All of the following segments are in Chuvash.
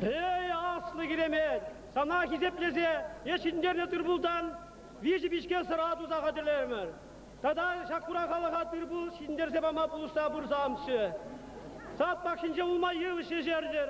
Эй, аслӑ Киремет, сана хисеплесе е ҫӗнтернӗ тырпултан виҫӗ пичке сӑра туса хатӗрлерӗмӗр. Тата ҫак хура халӑха тырпул ҫӗнтерсе пама пулӑшса пырсамччӗ. Сад пахчинче улма йывӑҫ ешертӗр,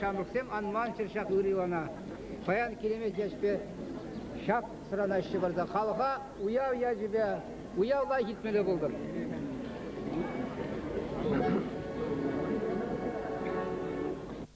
Ҫамрӑксем анманччӑр ҫак ырилана. Паян килемет яшпе ҫак сӑранаҫҫӗ парса халӑха уяв ячӗпе, уявпа ҫитмелле пултӑр.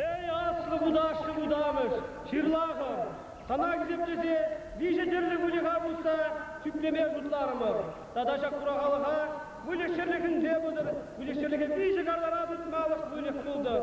Эй, аслӑ вутаҫҫӑ вутамӑш, ҫырлахӑр! Сана хисеплесе виҫӗ тӗрлӗ выльӑха пусса чӳклеме шутларӑмӑр. Тата ҫак хурахалӑха выльӑх-чӗрлӗхӗнче пултӑр, выльӑх-чӗрлӗхе виҫӗ картара тытмалӑх выльӑх пултӑр.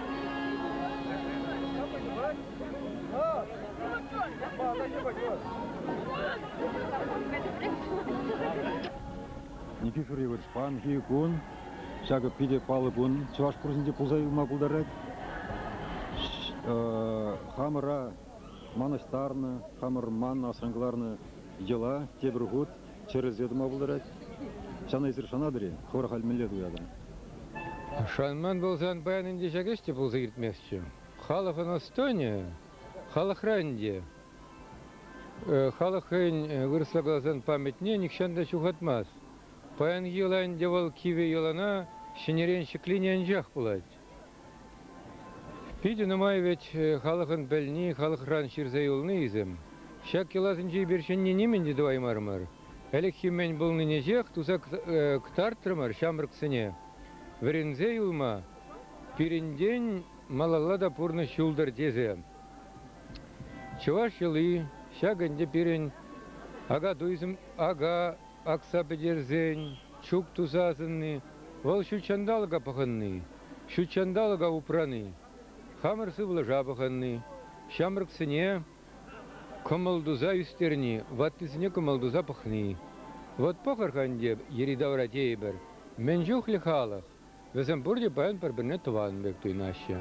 Никифорий Вырспанхи кун, ҫакӑ питӗ паллӑ кун, чӑваш курсӗнче пулса юлма пултарать. Хамӑра манӑҫтарнӑ, хамӑр ман асран кӑларнӑ йӑла тепӗр хут Чӗрӗлсе тӑма пултарать. Ҫана эсир шанатӑр-и? Хӑвӑр халь мӗнле туятӑр? Шанман пулсан паян ӗнтӗ ҫак ӗҫ те пулса иртместчӗ. Халӑх ӑнӑстӑнӗ, халӑхра ӗнтӗ. Халӑх хӑйӗн вырӑсла каласан памятне нихҫан та ҫухатмасть. Паянхи йӑла ӗнтӗ вӑл кивӗ йӑлана ҫӗнӗрен ҫӗклени анчах пулать. Питӗ нумай вӗт халӑхӑн пӗлни, халӑхран ҫырса юлнисем. Ҫак йӑласенче эпир ҫӗнни нимӗн те тӑваймарӑмӑр. Ӗлӗкхи мӗн пулнинӗҫех туса кӑтартрӑмӑр ҫамрӑксене. Вӗренсе юлма пирӗнтен малалла та пурнӑҫ юлтӑр тесе чӑваш йӑли, ҫак ӗнтӗ пирӗн ака-туйсем, ака акса пӗтерсен чук туса асӑнни, вӑл ҫутҫанталӑка пӑхӑнни, ҫутҫанталӑка упрани, хамӑр сывлӑша пӑхӑнни, ҫамрӑксене кӑмӑл туса ӳстерни, ваттисене кӑмӑл туса пӑхни. Вӑт пӑхӑр-ха ӗнтӗ йӗри-тавра тейӗпӗр мӗн чухлӗ халӑх. Вӗсем пурте паян пӗр-пӗрне тӑван пек туйӑнаҫҫӗ.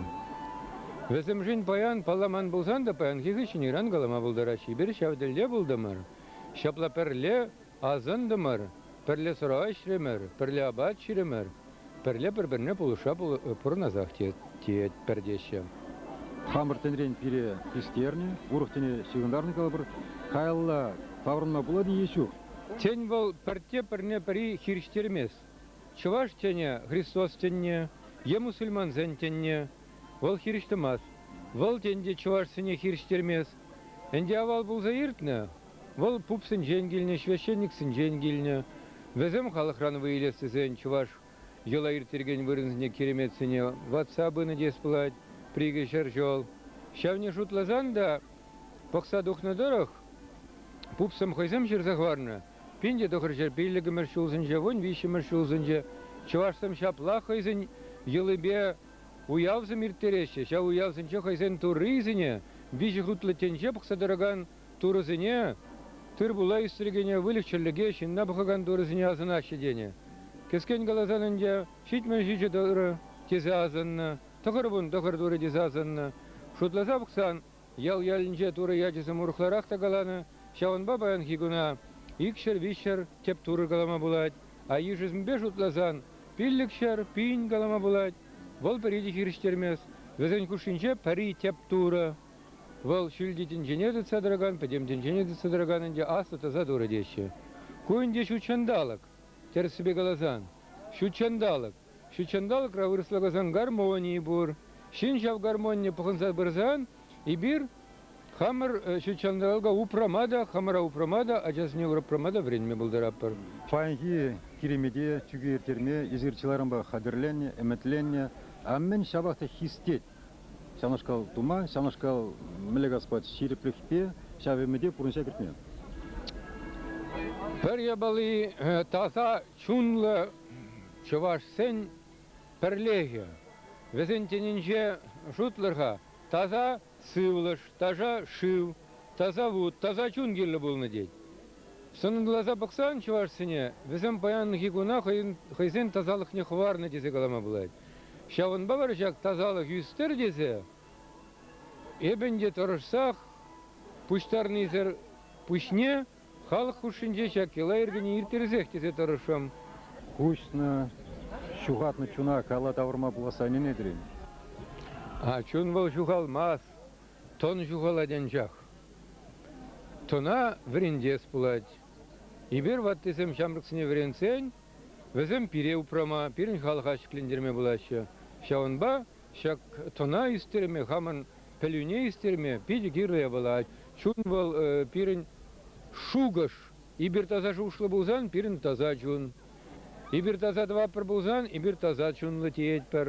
Вӗсемшӗн паян, палламан пулсан та, паянхи хыҫҫӑнран калама пултарать, эпир ҫав тӗлте пултӑмӑр, ҫапла пӗрле асӑнтӑмӑр, пӗрле сӑра ӗҫрӗмӗр, пӗрле апат ҫирӗмӗр, пӗрле пӗр-пӗрне пулӑшса пурӑнасах тетпӗр теҫҫӗ. Хамӑр тӗнрен пире хистернӗ, урӑх тӗне ҫыхӑнтарнӑ калӑпӑр, каялла таврӑнма пулать-и е ҫук? Тен, вӑл пӗртте пӗрне-пӗри хирӗҫтермест? Чӑваш тӗнӗ, Христос тӗнне е мусульмансен тӗнне, вӑл хирӗҫ тӑмасть. Вӑл тен те чӑвашсене хирӗҫтермест. Ӗнтӗ авал пулса иртнӗ. Вӑл пупсенчен килнӗ, священниксенчен килнӗ. Вӗсем халӑхран вӑй илес тесен чӑваш йӑла ирттерекен вырӑнсене киреметсене ватса пынӑ теес пулать, прикӗ ҫӗр ҫӑл. Ҫавне шутласан та, пӑхса тухнӑ тӑрӑх, пупсем хӑйсем ҫырса хӑварнӑ. Пин те тӑхӑрҫӗр пиллӗкмӗш ҫулсенче, вун виҫҫӗмӗш ҫулсенче чӑвашсем ҫапла хӑйсен йӑлипе уявсем ирттереҫҫӗ. Ҫав уявсенче хӑйсен туррисене, виҫӗ хутлӑ тӗнче пӑхса тӑракан турӑсене, тыр-пула ӳстерекене, выльӑх-чӗрлӗке, ҫынна пӑхакан турӑсене асӑнаҫҫӗ тенӗ. Кӗскен каласан ӗнтӗ, ҫитмӗл ҫичӗ тӑрӑ тесе асӑннӑ, тӑхӑр вун тӑхӑр турӑ тесе асӑннӑ. Шутласа пӑхсан, Ял-ялӗнче турӑ ячӗсем урӑхларах та каланӑ, ҫавӑнпа паянхи куна икҫӗр-виҫҫӗр тӗп турӑ калама пулать, а йышӗсемпе шутласан, пиллӗк ҫӗр пин калама пулать. Вӑл пӗри те хирӗҫтермест, вӗсен хушшинче пӗри тӗп турӑ. Вӑл ҫӳлти тӗнчене тытса тӑракан, пӗтӗм тӗнчене тытса тӑракан ӗнтӗ аслӑ таса турӑ теҫҫӗ. Ку ӗнтӗ ҫут ҫанталӑк. Тӗрӗссипе каласан, ҫут ҫанталӑк. Ҫутҫанталӑкра вырӑсла каласан гармони пур. Ҫын ҫав гармонине пӑхӑнса пырсан эпир хамӑр ҫутҫанталӑка упрама та, хамӑра упрама та, ачасене упрама та вӗренме пултаратпӑр. Паянхи киремете чӳке ирттерме эсир чылайранпах хатӗрленнӗ, ӗмӗтленнӗ. А мӗн ҫапах та хистет ҫавнашкал тума, ҫавнашкал мӗлле каспа ҫирӗплӗхпе ҫав ӗмӗте пурнӑҫа кӗртме. Пӗр япали таса чунлӑ чӑвашсен пӗрлехӗ. Вӗсен тӗнӗнче шутлӑр-ха, таса сывлӑш, таса шыв, таса вут, таса чун кирлӗ пулнӑ тет. Сӑнӑрласа пӑхсан чӑвашсене вӗсем паянхи куна хӑйсен тасалӑхне хӑварнӑ тесе калама пулать. Ҫавӑнпа вара ҫак тасалӑх ӳстӗр тесе эп ӗнтӗ тӑрӑшсах пуҫтарнисӗр пуҫне Халӑх хушшинче ҫак йӑла йӗркене ирттерсех тесе тӑрӑшрӑм. Куҫнӑ, ҫухатнӑ чуна кала тавӑрма пуласса ӗненетӗр-им? Чун вӑл ҫухалмасть, тӑн ҫухалать анчах. Тӑна вӗрентес пулать. Эпир, ваттисем, ҫамрӑксене вӗрентсен вӗсем пире упрама, пирӗн халӑха ҫӗклентерме пулаҫҫӗ. Ҫавӑнпа Ҫак тӑна ӳстерме, хамӑн пӗлӳне ӳстерме питӗ кирлӗ япӑлать. Чун вӑл, пирӗн шухӑш. Эпир таса шухӑшлӑ пулсан, пирӗн таса чун. Эпир таса тӑватпӑр пулсан, эпир таса чунлӑ теетпӗр.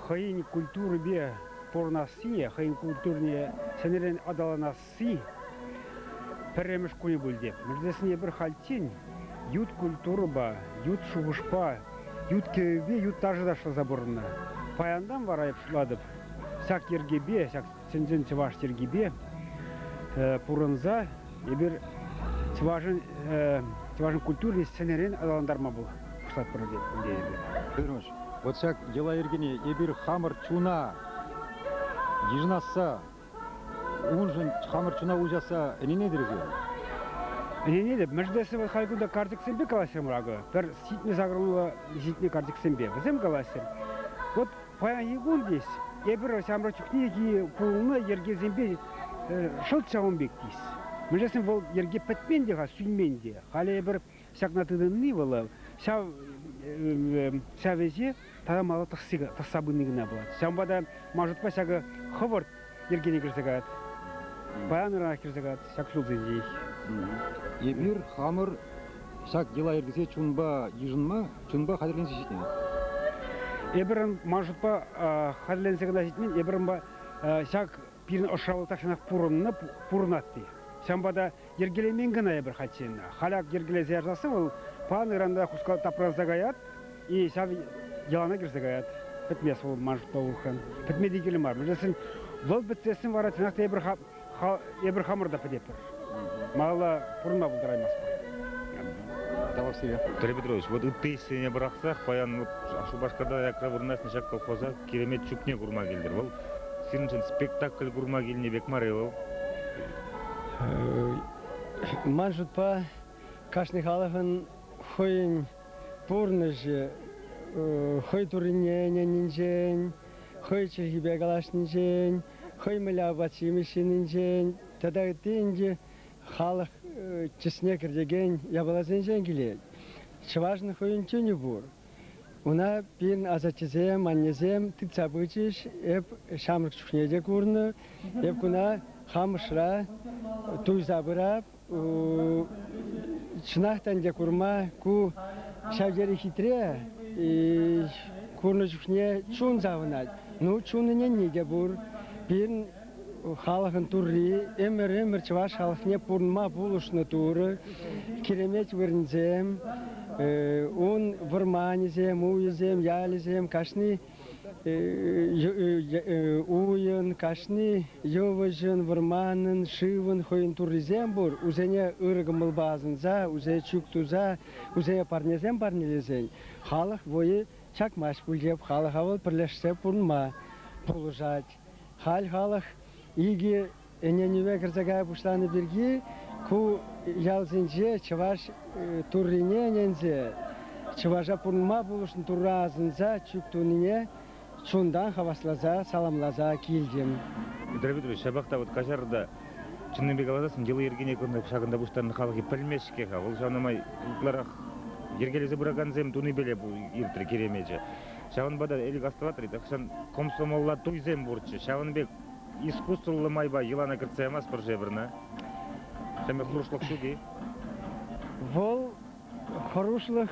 хӑйӗн культурипе пурӑнассине, хӑйӗн культурине ҫӗнӗрен аталанасси пӗрремӗш кунӗ пулчӗ. Мӗнлесене пӗр хальччен ют культурӑпа, ют шухӑшпа, ют кӗвӗпе, ют ташӑ ташласа пурӑннӑ. Паянтан вара, пуҫлатӑп, ҫак йӗркепе, ҫак чӑн-чӑн чӑваш йӗркипе пурӑнса эпир чӑвашӑн чӑвашӑн культурине сӗнӗрен аталантарма пуҫлатпӑр тетпӗр. Ырӑш, вот ҫак йӑла-йӗркене эпир хамӑр чуна йышӑнасса, уншӑн хамӑр чуна уҫасса ӗненетӗр-сир? Ӗненетӗп. Мӗншӗн вӑл халь кунта карчӑксемпе калаҫрӑмӑр акӑ. Пӗр ситнӗ сакӑрмалла ситнӗ карчӑксемпе. Вӗсем калаҫрӑр. Вот Паянхи кун тес эпир ҫамрӑк чухнехи пулнӑ йӗркесемпе шӑлт ҫавӑн пек тес. Мӗншесен вӑл йӗрке пӗтмен те-ха, сӳнмен те. Халӗ эпир ҫакна тытӑнни вӑл ҫав ӗҫе тата мала тӑсса пыни кӑна пулать. Ҫавӑнпа та Машутпа ҫакӑ хӑвӑрт йӗркене кӗрсе каять. Паян кӗрсе каять ҫак ҫулсенчех. Эпир хамӑр ҫак йӑла-йӗркесе чунпа йышӑнма, чунпа хатӗрленсе ҫитӗнет. Эпир ман шутпа хатӗрленсе кӑна ҫитмен, эпир ҫак пирӗн ӑшра вӑл тахҫанах пурӑннӑ, пурӑнать ҫавӑнпа та Йӗркелемен кӑна эпир хальччен. Халь ак йӗркелесе ярсасси вӑл панӑранта хускал тапранса каять, и ҫав йӑлана кӗрсе каять. Пӗтмест вӑл ман шутпа улӑхран. Пӗтме те кирлӗ мар. Мӗншӗн вӑл пӗтсессӗн вара чӑнах та эпир, эпир хамӑр та пӗтетпӗр. Малалла пурӑнма пултараймастпӑр. Тавах сире. Петр Петрович, вот ытти ӗҫсене пӑрахсах паян вот Шупашкарта аякра вырнаҫнӑ ҫак колхоза Киремет чӳкне курма килтӗр. Вӑл сирӗншӗн спектакль курма килнӗ пек мар-и вӑл? Ман шутпа, кашни халӑхӑн хӑйӗн пурнӑҫӗ, хӑй туррине ӗненнинчен, хӑй чӗлхипе калаҫнинчен, хӑй мӗнле апат-ҫимӗҫ ҫининчен тата ытти ӗнтӗ халӑх чысне кӗртекен япаласенчен килет. Чӑвашӑн хӑйӗн чунӗ пур. Ӑна пин асаттесем, аннесем тытса пычӗҫ. Эп ҫамрӑк чухне те курнӑ. Эп куна Хамӑшра туйса пырап. Чӑнах та ӗнтӗ курма ку ҫав тери хитре. Курнӑ чухне чун савӑнать. Ну, чун ӗненни те пур. Пин халӑхӑн Турри ӗмӗр-ӗмӗр чӑваш халӑхне пурӑнма пулӑшнӑ Турӑ. Киремет вырӑнсем, ун вӑрманӗсем, уйӗсем, ялӗсем кашни уйӑн, кашни йывӑҫӑн, вӑрманӑн, шывӑн хӑйӗн Туррисем пур. Усене ырӑ кӑмӑлпа асӑнса, усее чӳк туса, усее парнесем парнелесен халӑх вӑйӗ чакмасть пуль те халӑха вӑл пӗрлешсе пурӑнма пулӑшать. Халь халӑх икӗ ӗненӗве кӗрсе кая пуҫланӑ пирки ку ялсенче чӑваш туррине ӗненсе, чӑваша пурӑнма пулӑшнӑ Турра асӑнса чӳк тунине чунтан хавасласа, саламласа килтӗм. Петр Петрович, ҫапах та вот каҫар та чӑннипе каласассӑн йӑли-йӗркине шакӑнта пуҫтарнӑ халӑхӗ пӗлмест-ҫке-ха. Вӑл ҫавна май ытларах йӗркелесе пыракансем тунипеле иртрӗ Киремечӗ. Ҫавӑнпа та Элӗк астӑватӑр-и, тахҫан комсомолла туйсем пурччӗ. Ҫавӑн пек искусствӑллӑ майпа йӑлана кӗртсе ямастпӑр Шепӗрна. Сӗмӗ хӑрушлӑх ҫук-и? Вӑл хӑрушлӑх